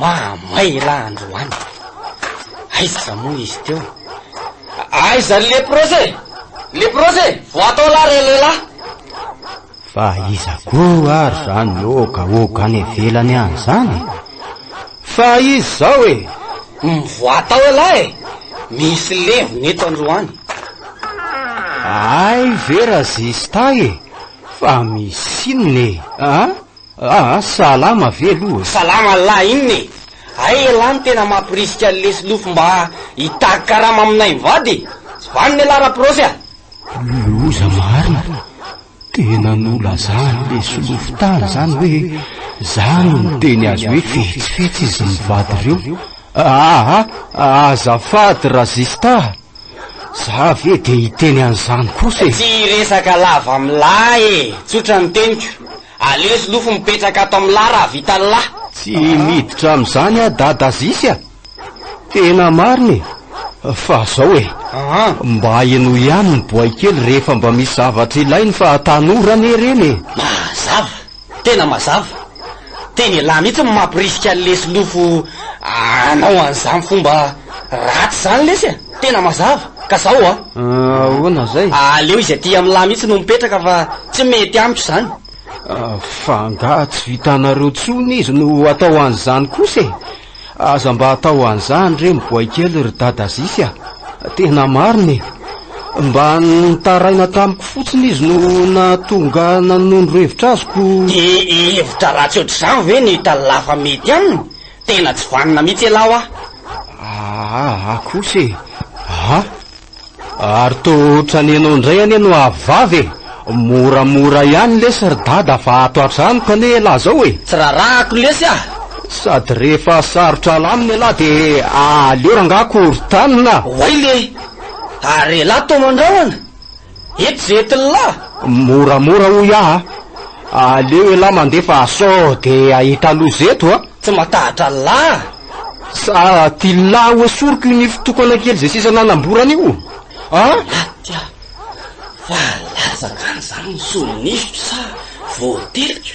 Mahamay elah androany. Aiza moa izy teo? Aiza ny leprose? Leprose, voatao lah re lehilahy. Fa iza koa ary zany oka oka any ivelany any zany? Fa izy zao e. Mivoatao elah e. Misy levona eto androany. Ay vera zista e. Fa misy inona e? Ah? Aa salama ve aloha e. Salama Allah inona e. Hay elah no tena mampirisika an'i lesy lofy mba hitaky karama aminay mivady e. Vanona elah raprosy a. Loza marina. Tena nolazan'i lesy lofy tany zany hoe za no niteny azy hoe fetsifetsy izy mivady reo. Aa azafady Razista a. Za ve de hiteny an'izany kosa e. Tsy hiresaka lava milay e. Tsotra ny teniko. Aleo zlofo mipetraka ato am la raha vita ny la. Tsy miditra amzany ah dada zisy ah. Tena marina e! Fa zao e! Mba henoy ihany ny boay kely rehefa mba misy zavatra ilainy fa tanora anie ireny e! Mazava! Tena mazava! Teny elah mihitsy no mampirisika anle slofo anao anzany fomba ratsy zany lesy a! Tena mazava ka zao a. Ahoana zay? Aleo izy aty amin'lah mihitsy no mipetraka fa tsy mety amiko izany. Fa angaha tsy vitanareo tsony izy no atao an'izany kosa e. Aza mba atao an'izany re miboay kely ry dada Azisy a. Tena marina e. Mba nitaraina tamiko fotsiny izy no nahatonga nanondro hevitra azoko. Dia hevitra ratsy ohatr'izany ve no hitany lafa mety aminy? Tena tsy vanona mihitsy ialahy hoa. Aa kosa e! Aa! Ary toa ohatran'ny ianao indray anie no avy vavy e! Moramora ihany lesy ry dada fa ato an-trano kani ialahy izao e! Tsy rarahako lesy ah! Sady rehefa sarotra alamina ialahy dia aleo rangahy korotanina ah! Oay le! Ary ialahy toa mandrahona? Eto ze etin'lah! Moramora hoy aho a! Aleo elah mandefa sao de ahita loza eto a! Tsy matahotra an'lah! Sa tian'lah hoesoriko io nify tokana kely ze sisa nanamborana io a! Maty aho! Fa latsaka any zany ny solo-nifiko sa voateliko?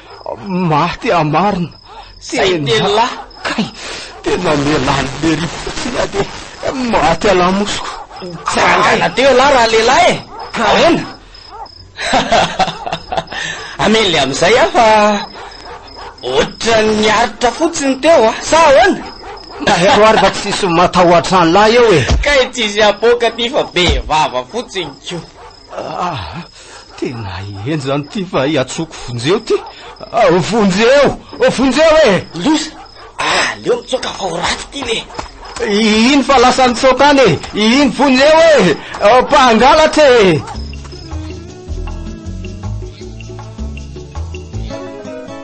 Maty amarina. Zay tena. Kay, tena lehilahy lery fotsiny aho dia maty alamosiko. Tsy rangaina teo ialahy raha lehilahy e. Ahoana? Amely amin'izay aho fa ohatran'ny aritra fotsiny teo ah. Sa ahoana? Tahero ary fa tsisy matahotra an'lahy eo e. Kay tsisy apoaka ty fa be vava fotsiny ko. Ah! Tena ahiahy zany ty fa hiantsoako Vonjeo ty. Ah, Vonjeo! Oh, Vonjeo e! Eh! Loza! Ah, leo mitsoaka fa ho raty ty le. Iny fa lasa nitsoaka any e. Iny Vonjeo e! Eh! Oh, mpangalatra e!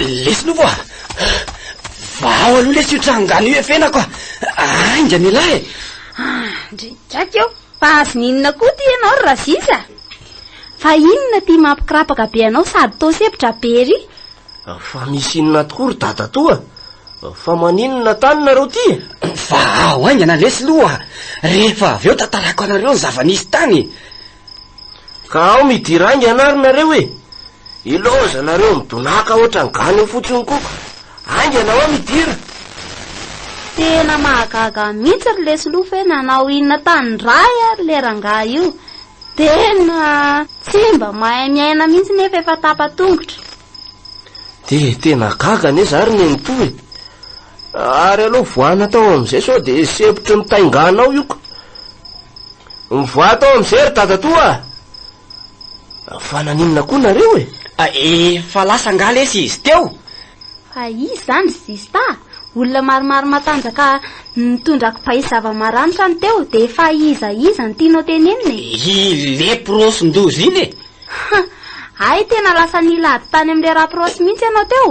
Lesy nofo a! Vao aloha lesy io trangano io efenako a! Ainga mila e! Ndry gaga eo, fa azony inona koa ty ianao ry Razisa? Fa inona ty mampikrapaka be anao sady toa sepotra be ery? Fa misy inona tokoa ry dadatoa? Fa maninona tany nareo ty? Vao haingana lesy loha, rehefa avy eo tantarako anareo ny zava-nisy tany. Ka ao midira aingana ary nareo e! Ilaoza nareo midonàka ohatran'ny gana eo fotsiny koko! Aingana ao midira! Tena mahagaga mihitsy ry lesilofo hoe nanao inona tany rahy ary le rangahy io. Tena tsy mba mahay miaina mihitsy nefa efa tapa-tongotra. Dia tena gaga anie za ry nenitoa e! Ary aleo voana tao amin'izay sao dia sempotry ny tainganao io ka. Mivoaha tao amin'izay ry dadatoa a! Fa naninona koa nareo e? A, efa lasa angaha lesy izy teo? Fa iza izany ry zista a? Olona maromaro matanjaka nitondra kibay zava-maranitra no teo dia efa iza iza no tianao tenenina e? I leprosin-doza iny e! Hay tena lasa nilahady tany amin'ilay raprosy mihitsy ianao teo.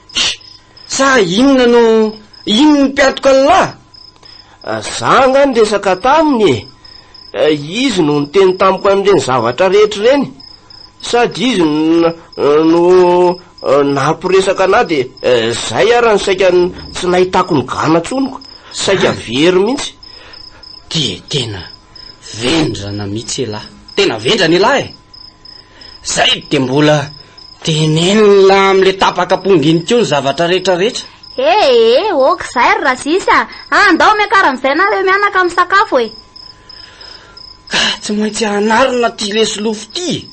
Tch! Sa inona no inn ny mpiatok' Allah? Za angaha niresaka taminy e! Izy no niteny tamiko an'ireny zavatra rehetra ireny, sady izy no nampiresaka anah dia zay ara no saika tsy nahitako ny gana tsoniko, saika very mihitsy. Dia tena vendrana mihitsy elah. Tena vendrana elah e! Zay de mbola tenenina amle tapaka ponga iny ko ny zavatra rehetra rehetra. He he ok zay ry Razisy a! Andao miakara amizay nareo mianaka misakafo e! Ka tsy maintsy hanarina ty lesilofo ty e!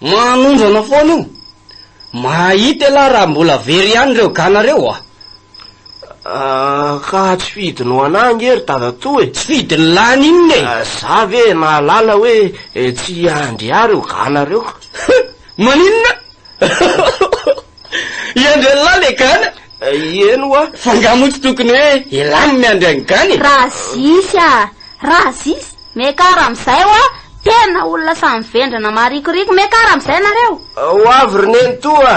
Manondrana foana io! Mahahita ialahy raha mbola very ihany reo gana reo a! Ka tsy fidiny ho anah ange ry dadatoa e! Tsy fidiny lany inona e! Za ve nahalala hoe tsy hiandry ahy reo gana reo ka! Maninona? Hiandry anlah le gana? Ieny wa! Fa nga moa tsy tokony hoe elah ny miandry an'i gana e! Razisy a! Razisy! Mekar amizay wa! Tena olona samy vendrana marikoriko! Mekar amizay nareo! Ho avy ry nenitoa!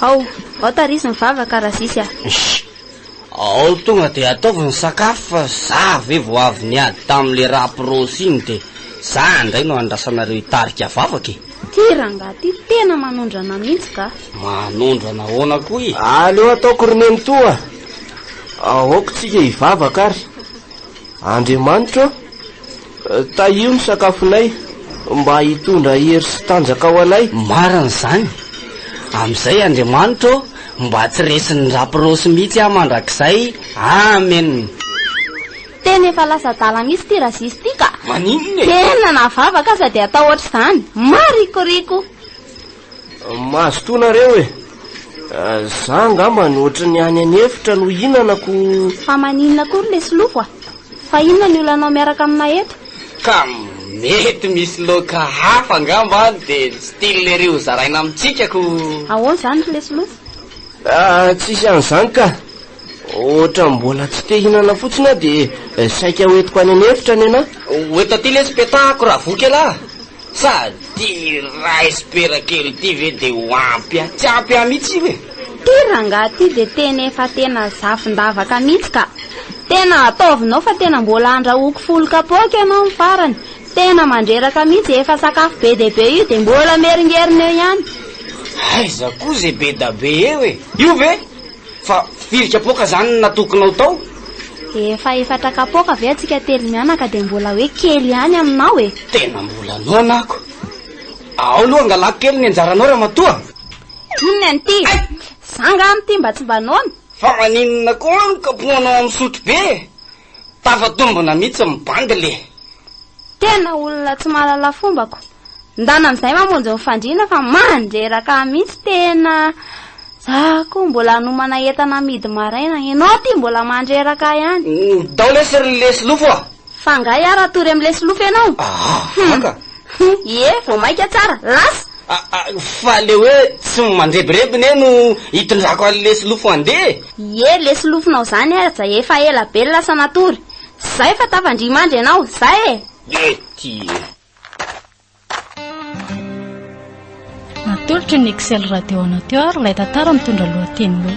Ao, ao tarizo ny vava ka razisy a. Shh! Ao tonga dia ataovy ny sakafo fa za ve vao avy niady tamin'ilay raprose iny dia za indray no andrasanareo hitarika vavaka e. Ty rangahy ty tena manondrana mihitsy ka. Manondrana ahoana koa e? Aleo ataoko ry nenitoa. Aoka isika hivavaka àry. Andriamanitro, tahio ny sakafonay mba hitondra hery sy tanjaka ho anay. Marina izany. Amin'izay, Andriamanitro ô, mba tsy resin'ny rapirosy mihitsy aho mandrakizay. Amena. Tena efa lasa adala mihitsy ity Razis ity ka! Maninona e? Tena na vavaka aza dia atao ohatr'izany. Marikoriko! Mazotoa nareo e Za angamba ny ohatry ny any any efitra no hinanako Fa maninona kory lesy lofo a Fa inona ny olanao miaraka aminay eto Ka mety misy loka hafa angamba dia ny style ery ho zaraina amintsika ko Ahoana izany ry lesy lofo Ah tsisy an'izany ka Ohatra mbola tsy te hinana fotsiny aho dia saika ho entiko any an'efitra ny anah Ho eto aty lesy petahako raha voky elah Sady rice pera kely ity ve de ho ampy ahy? Tsy ampy ahy mihitsy io e! Ity rangahy ity dia tena efa tena zafin-davaka mihitsy ka! Tena ataovinao fa tena mbola andrahoako folo kapoaka ianao ny farany! Tena mandreraka mihitsy e! Efa sakafo be dia be io dia mbola miheringerina eo ihany! Aiza koa izay be da be eo e! Io ve? Fa firy kapoaka zany no natokinao tao? Efa efatra kapoaka ve atsika telo mianaka dia mbola hoe kely ihany aminao e! Tena mbola noana ako. Ao aloha angalako kely ny anjaranao ramatoa. Inona an'ity? Za nga amin'ity mba tsy mba noana? Fa maninona koa ny kapoanao amin'ny sotrobe? Tafatombina mihitsy ny bandy le. Tena olona tsy mahalala fomba ko. Ndana amizay mamonjy ny fandriana fa mandreraka mihitsy tena za ko mbola anomana entana amidy maraina enao ty mbola mandreraka ihany. Ndao lesy ry lesilofo a. Fa nga iaraha tory am lesilofo enao? Ahh vaka. Ie vao maika tsara. Lasa. Aa, fa le hoe tsy ny mandrebireby ne no itondrako an'i lesilofo handeha e! Ie, lesilofonao zany e Raja efa ela be lasa natory. Tsy zay fa tafandrimandry ianao, zay e! Ie, tie. Natolotry ny Excel Radio Amateur ilay tantara mitondra lohateny hoe.